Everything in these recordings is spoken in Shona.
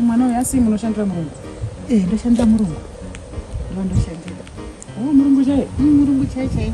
mwana uyo asi munoshandira murungu eh, ndoshandira murungu ndoshandira oh, murungu chaiye mm, murungu chaiye chaiye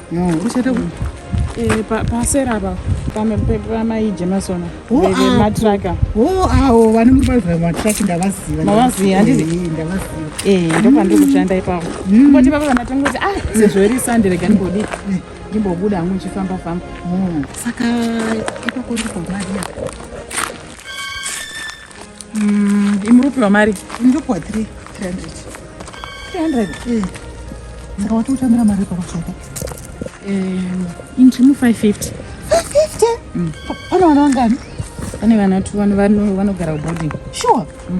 uchata eh, pasera apa pamaije masona matraka o awo vane muribaiva matraki ndavaziva mavaziva handizi eh, ndopandiri eh, kushanda ipapo mm. koti vava vanatonga kuti ah sezvo iri sande rega ndimbodii ndimbobuda hangu ndichifamba famba mm. saka ipapo ndipomadiya Mm, imurupiwa mari ndopiwa 300 300 saka watotambira mari parutsvaka intimu 550 pane vana vangani pane vana tu vanogara kuboarding sure mm.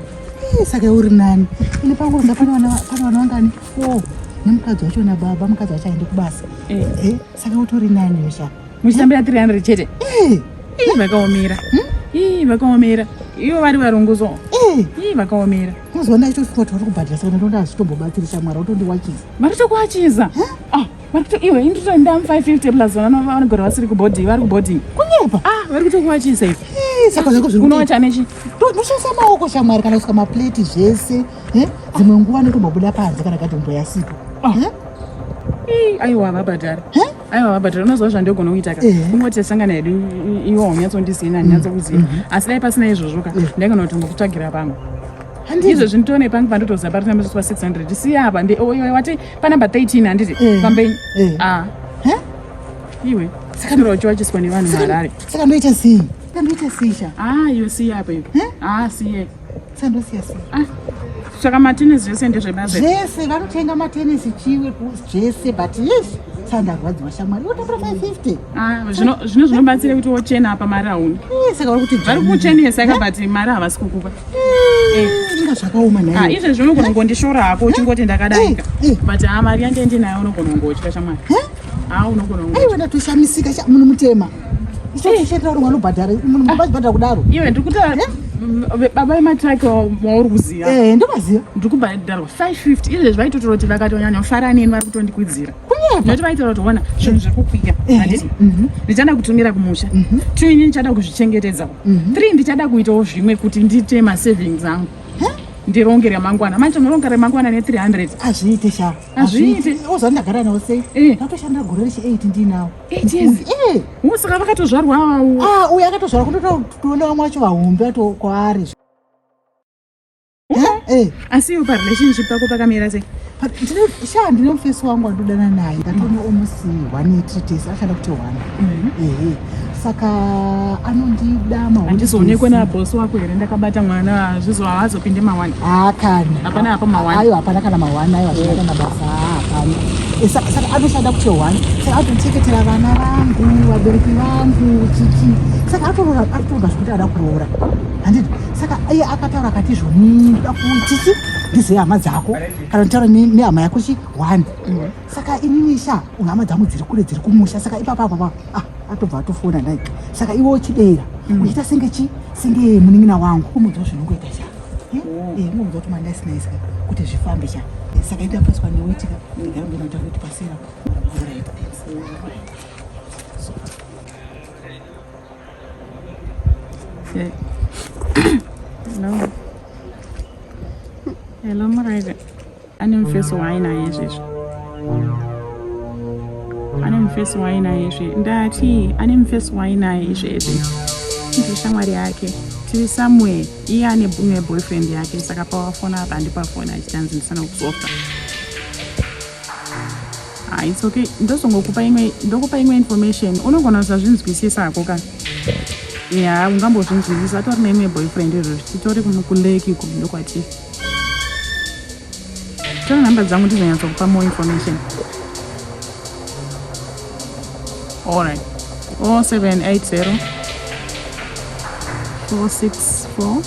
eh, saka uri nani ini panguruza pane vana vangani four nemukadzi wacho nababa mukadzi wacho aende kubasa eh. Eh, saka utori nani weshaa muchitambira 300 chete eh. ii vakaomera hmm? ii vakaomera ivo vari varunguzo eh. ii vakaomera uzoona chitosvika tauri kubhadhira saka ndonda azitombobatsiri shamwari utondiwachiza vari tokuwachiza ah, vari kuto iwe inditoenda mu 550 plus vanogara vasiri kuboding vari kuboding kunyepa ah, vari kutokuwachiza ivi saka zvako zviri unowacha nechi ndoshandisa maoko shamwari kana kusika mapleti zvese dzimwe nguva nekumabuda panze kana katombo yasipo aiwa vabhadhara aiwa but unoziva zvandogona kuita ka kungoti tasangana hedu iwo haunyatsondizivi nandinyatsokuziva mm-hmm. asi dai pasina izvozvo ka ndaigona kuti ngokutsvagira pamwe ndizvo zvindione pangu pandotoziva pari tamba zviswa 600 siya apa wati panumber 13 handiti pambeni a iwe saka wacho wachiswa nevanhu muharare saka ndoita sei saka ndoita sei sha a ah, iwe siya apa iwe a ah, siye sandosiya sei ah, saka matenesi zvese ndezvebazi zvese vanotenga matenesi chiwe zvese but yes sandarwadziwa shamwari wotambira 550 ah, zvino zvinobatsira kuti wochena apa mari hauna eh, saka vari kuti vari kuchenesa ka but mari havasi kukupa eh, eh. inga zvakaoma nayo ah, izvezvi unogona kungondishora hako uchingoti ndakadaika but haa mari yange ndinayo unogona kungotya shamwari haa unogona kungotya aiwa ndatoshamisika munhu mutema ichetaurwanobhadharaibhadhara kudaro iwe ndikutaura eh? baba vemataki wauri kuziva eh, ndovaziva ndiri kubhadharwa 550 izvezvi vaitotora kuti vakatonyanya kufara neni vari kutondikwidzira nekuti vaitotora kuti ona zvinhu zviri kukwiya eh, anditi mhm. ndichada kutumira kumusha mhm. two ini ndichada kuzvichengetedzawo mhm. three ndichada kuitawo zvimwe kuti ndiite masavings angu ndironge remangwana manje unoronga remangwana ne300 azviite sha azviite ozvandagara nawo sei ndatoshanda gore rechi8 ndinawo It is. Eh. Musaka vakatozvarwa awo. Ah, uya akatozvarwa kutotaura kutoona vamwe vacho vahombe ato kwaari. Eh. Asi iwe parelationship pako pakamira sei? sha ndine mufesi wangu wandodana naye ndatoona almost one treates achada kuti one mhm. ehe saka anondida mahandizoonekwe nabosi wako here ndakabata mwana hazvizo haazopinde mawani Ah, kana hapana hapo mawani ayo hapana kana mawani ayo hapana kana basa hapana eh, saka anoshanda kuti one saka atocheketera vana vangu vabereki vangu chichi saka atoroora atoroora zvekuti ada kuroora handiti saka iye akataura akati izvo nda kuchichi ndizoya hama dzako kana nditaura nehama yako chi one mm. saka inini sha hama dzangu dziri kule dziri kumusha saka ipapa apapa ah atobva atofona nai saka iwe uchidera mm. uchiita senge chi senge munin'ina wangu umudziwo zvinongoita sha inonzwa kuti manda isina isika kuti zvifambe cha saka ita paswa newetika ndigara ndinoita kuti pasera Hello, Maraida. Ane mufesi waainaye izvezvi. Ane mufesi waainaye izvi. Ndati ane mufesi waainaye izvezvi. Ndiri shamwari yake. Tiri somewhere. Iye ane bumwe boyfriend yake saka pawafona apa handipafona achitanzi ndisana kusofa. Ah, it's okay. Ndozongokupa imwe ndokupa imwe information. Unogona kusazvinzwisisa hako ka. Yeah, ungambozvinzwisisa atori neimwe boyfriend izvozvi. Titori kuleki kumwe ndokwatiri. Tora nhamba dzangu ndizonyatsa kupa more information. Alright. 0780 464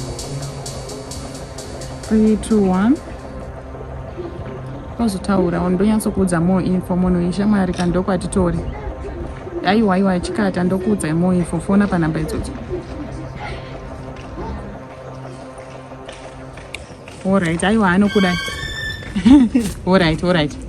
321 ozotaura ondonyatsokuudza more info munhu ishamwari ka ndokwatitori aiwa aiwa chikata ndokuudzai more info fona panhamba idzodzo Alright, aiwa anokuda. Alright, alright.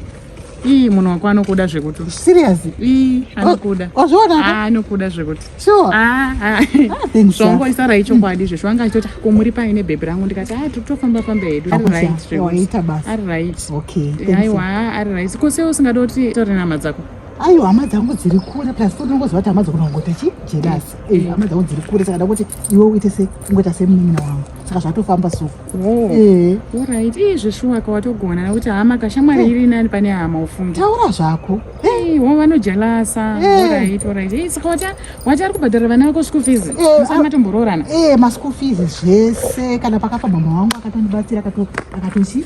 Ii munhu wako anokuda zvekuti. Serious? Ii anokuda. Oh, Wazviona? Oh, ah, anokuda zvekuti. Sure. Ah, ah. ah Songo isara ichokwadi izvo. Zvanga achitoti ah, kumuri pai ne baby rangu ndikati ah totofamba famba hedu. Ari right zvekuti. Ari right. Okay. Aiwa, ari right. Ko sei usingadoti tori nama dzako? ayo hama dzangu dziri kure plus futi unongoziva kuti hama dzakona kungoita chi jelasi mm. eh, hama dzangu dziri kure saka ndakuti iwe uite se ungoita semunin'ina wangu saka zvatofamba so oh. eh. orit ii zveshuwaka watogona nekuti hama kashamwari eh. iri nani pane hama ufunge taura zvako wo vanojelasa orit orit i saka wati wati ari kubhadhara vana vako school fees musana matomboroorana e maschool fees zvese kana pakafa mama wangu akatondibatsira akatochi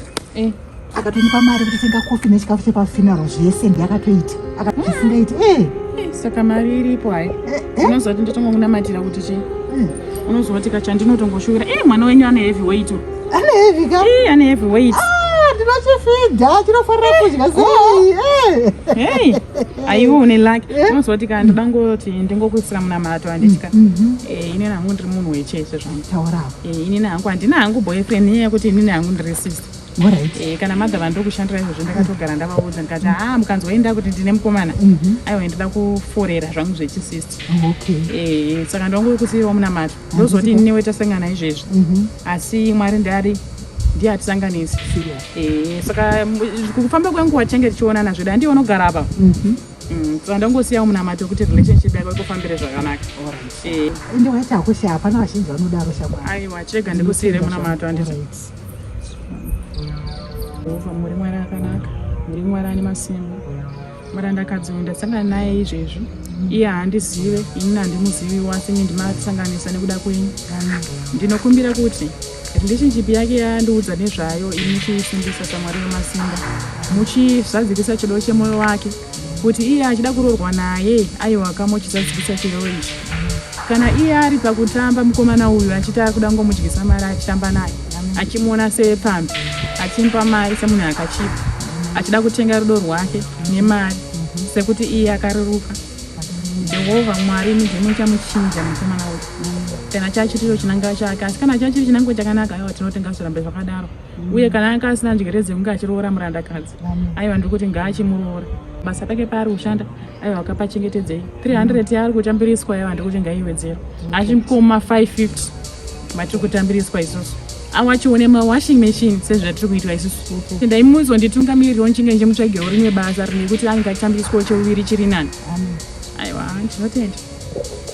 akatondipa mari kuti tenga kofi nechikafu chepafinaro zvese ndiyakatoita akatisingaiti e eh! eh, saka mari iripo hai eh, unoziva kuti ndotongokunamatira kuti chii hmm. unoziva kuti kachandinotongoshuvira e mwana wenyu ane heavy weight ane heavy ka ane heavy weight ah, ndinochifidha chinofanira kudya oh. sei hei aiwe une laki unoziva kuti ka ndodangoti ndingokuisira munamato anditya mm, mm, mm. inini hangu ndiri munhu wechese zvangu taurawo inini hangu handina hangu boyfriend nyaya yekuti inini hangu ndiri sister Eh, kana mother vandiri kushandira izvozvo ndakatogara ndavaudza ndikati haa mukanzwa inda kuti ndine mukomana mhm. aiwa ndida kuforera zvangu zvechisist oh, eh, saka ndongori kusiiwa munamato ndozoti ini newe tasangana izvezvi mhm. asi mwari ndari ndiye atisanganisi eh, saka kufamba kwenguva tichange tichionana zvedu handiye unogara apa mhm. mm, saka ndongosiyawo munamato kuti relationship yako ikufambire zvakanaka ende waita hakushaya hapana vazhinji vanodaro shamwari aiwa chirega ndikusiire munamato anditi Jehovha muri Mwari akanaka, muri Mwari ane masimba. Mwari andakadzi uyu ndasangana naye izvezvi, iye haandizive, ini handimuzivi wasi ini ndimasanganisa nekuda kwenyu. Ndinokumbira kuti rindichichipi yake yandiudza nezvayo ini chiisimbisa saMwari wemasimba, muchizadzikisa chido chemwoyo wake. Kuti iye achida kurorwa naye aiwa ka mochizadzikisa chirevo ichi. Kana iye ari pakutamba mukomana uyu achiti ari kuda kungomudyisa mari achitamba naye achimuona sepfambi achimupa mari semunhu akachipa achida kutenga rudo rwake nemari sekuti iye akareruka. Jehovha Mwari imi ndimi muchamuchinja mukomana uyu kana chachitiro chinangiro chake asi kana chachiri chinangiro chakanaka aiwa tinotenga zvirambe zvakadaro uye kana anga asina njere dzekunge achiroora murandakadzi aiwa ndiri kuti ngaachimuroora basa pake paari kushanda aiwa akapachengetedzei 300 yaari kutambiriswa aiwa ndiri kuti ngaiwedzero achimkoma 550 matiri kutambiriswa isusu awachione mawashing machine sezvatiri kuitwa isusu ndaimuzo nditungamiririwo nchinge njemutsvagewo rimwe basa rine kuti ange achitambiriswawo cheuviri chiri nani aiwa ndinotenda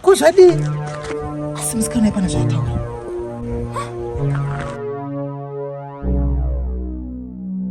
Ko zvadii? Asi musikana ipana zvaitaura.